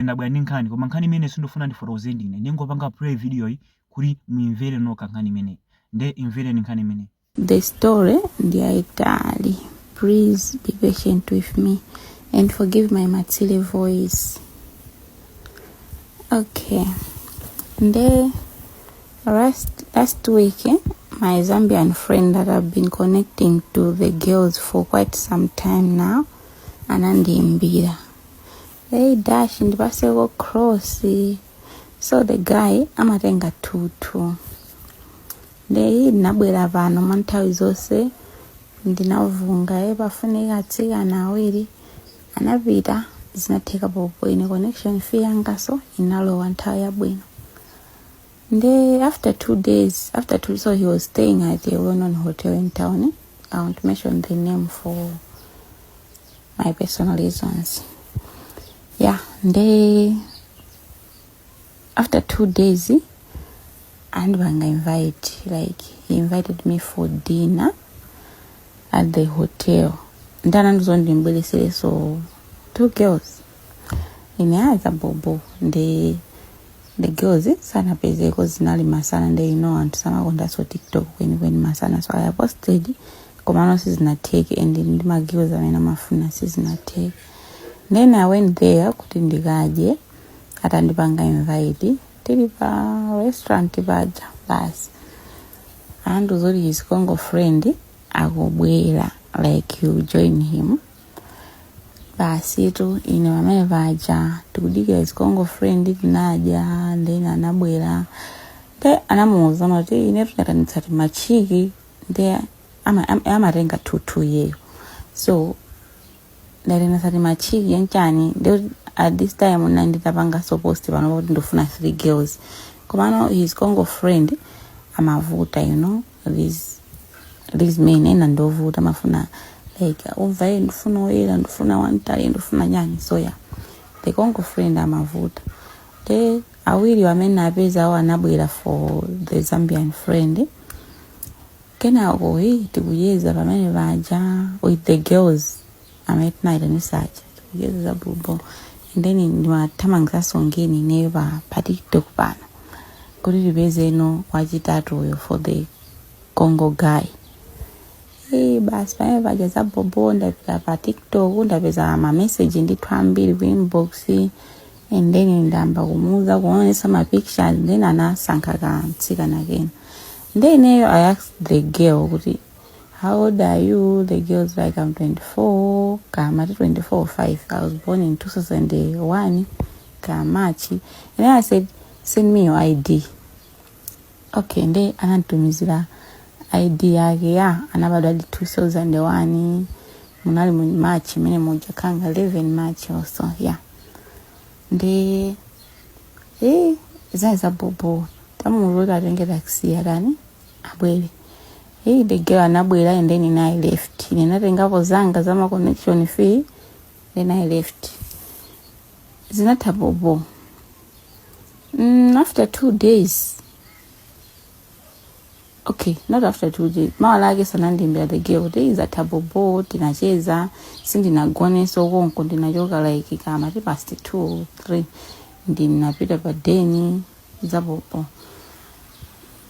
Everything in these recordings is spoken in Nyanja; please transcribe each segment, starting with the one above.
ndabwera ndi nkhani koma nkhani imeneyi sindikufuna ndifotokoze ndine ndingopanga play video yi kuti muimvere nokha nkhani imeneyi nde imvereni nkhani imeneyi The story ndiyaitali. Please be patient with me and forgive my matsile voice. Okay. Nde last week eh, my Zambian friend that I've been connecting to the girls for quite some time now anandiimbira hey dash ndipaseko cross so the guy amatenga two two nde ndinabwera pano mwa nthawi zonse ndinafunsa ye pafunika atsikana awiri anapita zinatheka bhobho ine connection fee yangaso inalowa nthawi yabwino nde after two days after two so he was staying at a well-known hotel in town i won't mention the name for my personal reasons yeah nde after two days and banga invite like he invited me for dinner at the hotel ndana ndizondimbweresereso two girls ine aza bobo nde the girls sanapezeko zinali masana nde you know anthu samakondanso tiktok kwenikweni masana so i posted komano sizinatheke and ndi ma girls amene amafuna sizinatheke then i went there kuti ndikadye atandipanga invite tili pa restaurant paja basi andiuza zoti his Congo friend akubwera like you join him basitu ine pamene paja tikudikira his Congo friend tinadya then anabwera nde anamuuza amati ine tunatanitsa timachiki nde ama- am- amatenga two two iyeyo so ndaitanitsa timachiki yanchani nde at this time ndinali nditapangaso post pano kuti ndifuna three girls komano his Congo friend amavuta you know these these men ena ndovuta amafuna like umva eh ndifuna oyera ndifuna wantali ndifuna chani so yeah the Congo friend amavuta nde awiri amene ndinapeza awo anabwera for the Zambian friend kenako hi tikucheza pamene paja with the girls amene tinaitanisa aja tikucheza za bhobho and then ndimathamangizanso ngeni ineyo pa pa tiktok pano kuti tipezeno wachitatuyo for the Congo guy Eh, basi pamene paja za bhobho ndapita pa tiktok ndapeza mameseji ndithu ambiri ku inbox and then ndayamba kumuuza kuonesa mapictures then anasankha kamtsikana kena then ineyo i asked the girl kuti How old are you? The girl's like, I'm 24. Kama, 24 5. I was born in 2001. Kamachi. And then I said, send me your ID. Okay, and then anantumizira ID yake ya anabadwa di 2001 munali mu March mene moja kanga 11 March or so yeah. Ndi eh zai za bobo tamuruka atenge taxi yarani abwere hey, the girl anabwera and then I left ndinatengapo zanga zama connection fee then i left zinatha bobo mm, after two days okay not after two days mawa lake sanandiimbire the girl zatha bobo tinacheza sindinagoneso konko ndinachoka like kuma past two or three ndinapita pa deni zabobo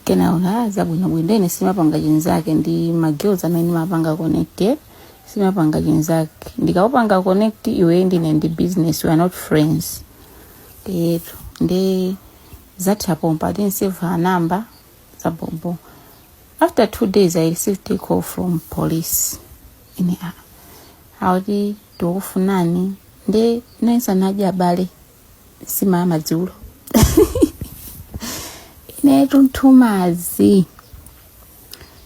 kenaka zabwinobwino ine sindimapanga chinzake ndi ma girls amene ndimapanga connect eh? sindimapanga chinzake ndikakupanga connect iwe ndi ine ndi business we are not friends eti ndi zatha pompa I didn't save her number zabobo after two days i received a call from police ine ah akuti tikufunani ndiye ndinayesa naja abale si amadzulo inetu nthumazi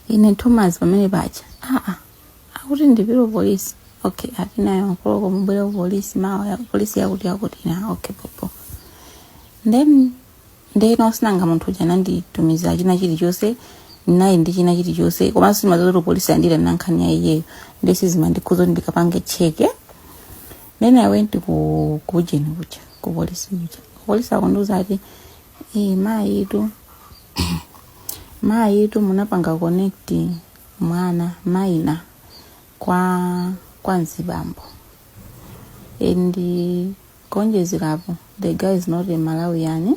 ine nthumazi pamene paja aa akuti ndi apolisi okay ati nine o'clock mubwere ku polisi mawa ya- polisi yakuti yakuti na okay bobo then ndiyeno sinanga munthu uja ananditumiza china chilichonse ID ndi china chilichonse komanso simazoto polisi andira nankhani ya iyeyo ndiye sizimandikhudza kuti ndikapange check then i went ku kujeni kuja ku polisi kuja polisi akundiuza ati "Eh, mayi itu mayi itu munapanga connect mwana minor kwa kwa mzibambo and kuonjezerapo the guy is not a malawian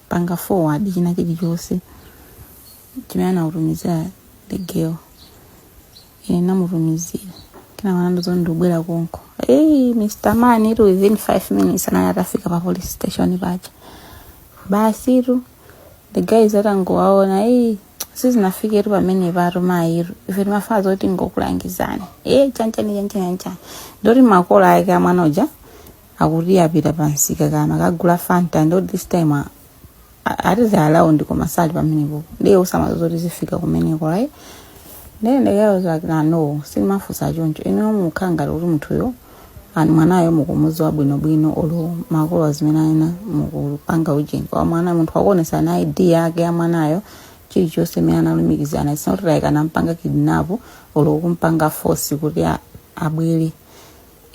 panga forward china chilichonse chimene anakutumizirani the girl ine ndinamutumizira kenako anandiuza kuti ndikubwera konko hey, mr man itu within five minutes anali atafika pa police station paja basi tu the guy atangowaona hey, sizinafiketu pamenepatu mayitu ife timaganiza zoti tingolangizana e chanchani chanchani chanchani ndiye kuti makolo ake a mwana uja akuti apita pamsika kukagula fanta ndiye this time a- a- ati the allowed koma sali pamenepo ndiye samadziwa zoti zifika kumeneko right then the guy was like no sindimafunsa choncho inewo mukhala ngati kuti munthuyo ani mwanayo mukumudziwa bwinobwino olo makolo zimene ayina mukupanga ujeni kwa mwana munthu wakuonetsa na id yake ya mwanayo chilichonse mmene analumikizana it's not like anampanga kidnap olo kumpanga force kuti a- abwere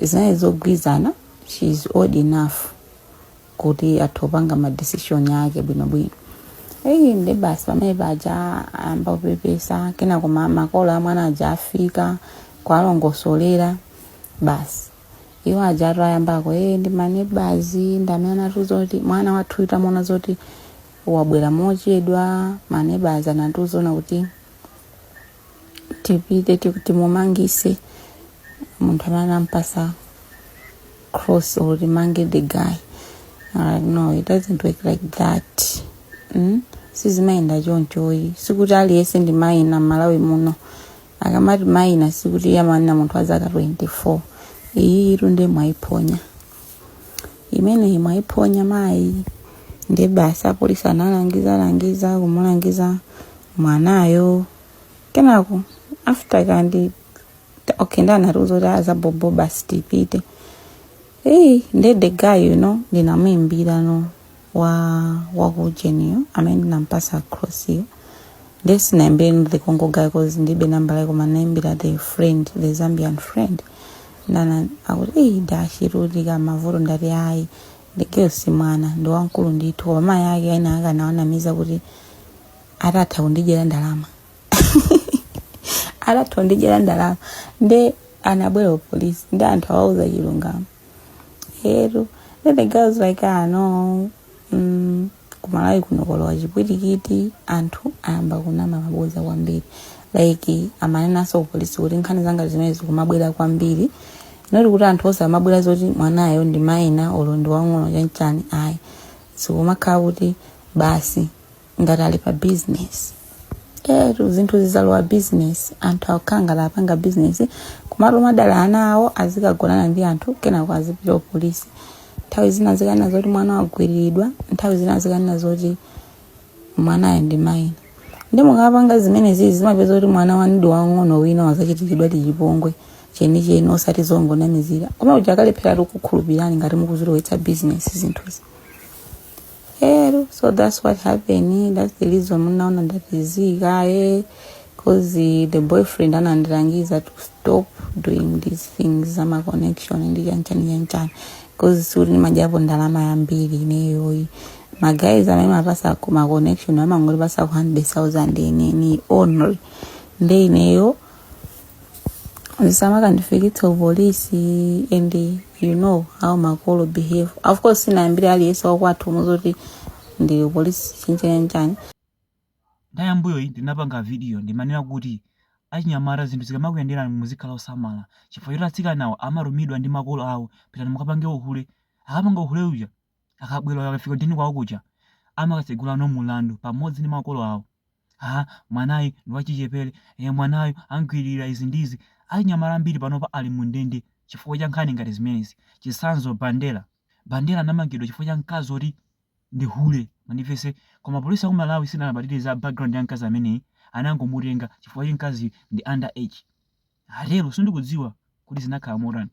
zinali zogwirizana she is old enough kuti atha kupanga ma decision ake bwinobwino eyi ndi basi pamene paja ayamba kupepesa kenako ma- makolo a mwana aja afika kuwalongosolera basi iwo ajatu ayambako e ndi ma neighbours ndi amene anatiuza kuti mwana wathuyu tamona zoti wabwera mochedwa ma neighbours anatiuzano kuti tipite tiku- timumangise munthu amene anampasa cross or timange the guy uh, no it doesn't work like that mm? sizimayenda chonchoyi sikuti aliyense ndi minor m'Malawi muno akamati minor sikuti iye amanena munthu wa zaka 24 iyayi etu ndiye mwayiphonya imeneyi mwayiphonya mayi ndi basi apolisi analangiza langiza kumulangiza mwanayo kenako after kandi ta- okay nde anatiuza kuti zabhobho basi tipite eyi nde the guy you know ndinamuyimbira no wa wakuujeniyo amene ndinampasa crossiyo ndiye sindinaimbire the Congo guy cause ndilibe nambala yake koma ndinaimbira the friend the zambian friend nde akuti eyi dashirudi kamavuto ndati ayi the girl yo si mwana ndi wamkulu ndithu koma mayi ake aneba ake anawanamiza kuti atha kundidyera ndalama atha kundidyera ndalama nde anabwera kupolisi ndi anthu awauza chilungamo etu then the girl was like ah no mm, kumalawi kuno kwalowa chipwirikiti anthu ayamba kunama mabodza kwambiri like amanenanso kupolisi kuti nkhani zangati zimenezi zikumabwera kwambiri moti kuti anthu osamabwera zoti mwanayo ndi minor olo ndi wang'ono chanchani ayi zikumakhala kuti basi ngati ali pa business etu zinthu zalowa business anthu akukhala ngati apanga business kumatuma dala ana awo azikagonana ndi anthu kenako azipita kupolisi nthawi zina zikanena zoti mwana wagwiriridwa nthawi zina zikanena zoti mwanayo ndi minor nde mukapanga zimenezi muzapeza kuti mwana wanu ndi wang'ono wina wazachitidwadi chipongwe chenicheni osati zongonamizira koma tizakalephera kukhulupirani ngati mukuzilowetsa bizinesi zinthuzi etu so that's what happened that's the reason munaona ndazisiya eh cause the boyfriend anandilangiza to stop doing these things zama connection ndi chanchani chanchani cause sindimadyapo ndalama yambiri ineyoyi maguys amene ndimawapatsa ma connection amangondipatsako 100000 ine only nde ineyo zisamakandifikitse ku polisi and you know how makolo behave of course sindinamuuzire aliyense wakwathu muzoti ndili ku polisi chanichani ndiye mmbuyomu ndinapanga vidiyo ndimanena kuti achinyamata zinthu zikamakuyenderani muzikhala osamala chifukwa choti atsikanawo amatumidwa ndi makolo awo pitani mukapange uhule akapanga uhule uja akabwera akafika ndiye kwawo kuja amakatsegula no mulandu pamodzi ndi makolo awo Ah, mwanayu ndi wachichepere. Eh, mwanayu amgwiririra izi ndi izi. Achinyamata ambiri panopa ali mu ndende chifukwa cha nkhani ngati zimenezi. Chitsanzo Bandera. Bandera anamangidwa chifukwa cha mkazi oti ndi hule. Mwandimvetsa? Koma polisi ya ku Malawi sinalabadire za background ya mkazi ameneyi, anangomutenga chifukwa choti mkaziyu ndi under age. Lero sindikudziwa kuti zinakhala motani.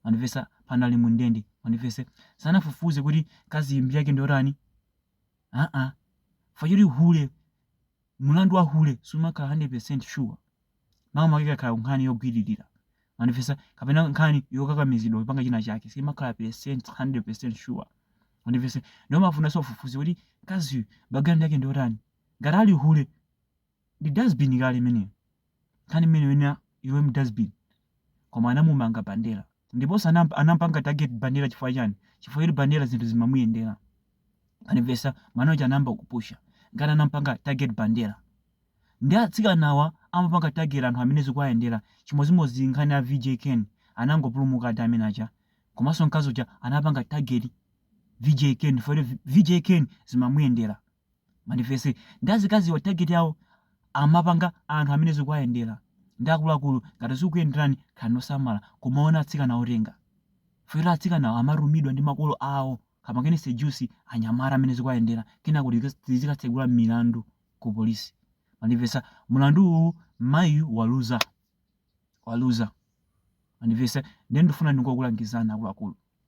Mwandimvetsa? Pano ali mu ndende. Mwandimvetsa? Sanafufuze kuti mkaziyu mbiri yake ndi yotani. aa chifukwa choti hule mulandu wa hule simakhala 100% sure makamaka ikakhala nkhani yogwiririra mwandimvetsa kapena nkhani yokakamizidwa kupanga china chake simakhala percent 100% sure mwandimvetsa ndiye umafunanso ufufuze kuti mkazi background yake ndiyotani ngati ali hule ndi dustbin kale imeneyo nkhani imene ukunena iwe mdustbin koma anamumanga bandera ndiponso anamp- anampanga target bandera chifukwa chani chifukwa choti bandera zinthu zimamuyendera mwandimvetsa mwana uja anayamba kupusha ndiye anampanga target bandera ndiye atsikanawa amapanga target anthu amene zikuwayendera chimodzimodzi nkhani ya vj ken anangopulumuka ati amene aja komanso mkazi uja anapanga target vj ken chifukwa choti vj ken zimamuyendera mwandimvetsa ndiye azikaziwa target yawo amapanga anthu amene zikuwayendera ndiye akuluakulu ngati zikukuyenderani khalani osamala kumaona atsikana otenga chifukwa atsikanawo amatumidwa ndi makolo awo kapangeni sejusi anyamata amene zikuwayendera kenako tizi- tizikatsegula milandu ku polisi mwandimvetsa mulandu uwu mayiyu waluza waluza mwandimvetsa ndiye ndifuna ndingokulangizani akuluakulu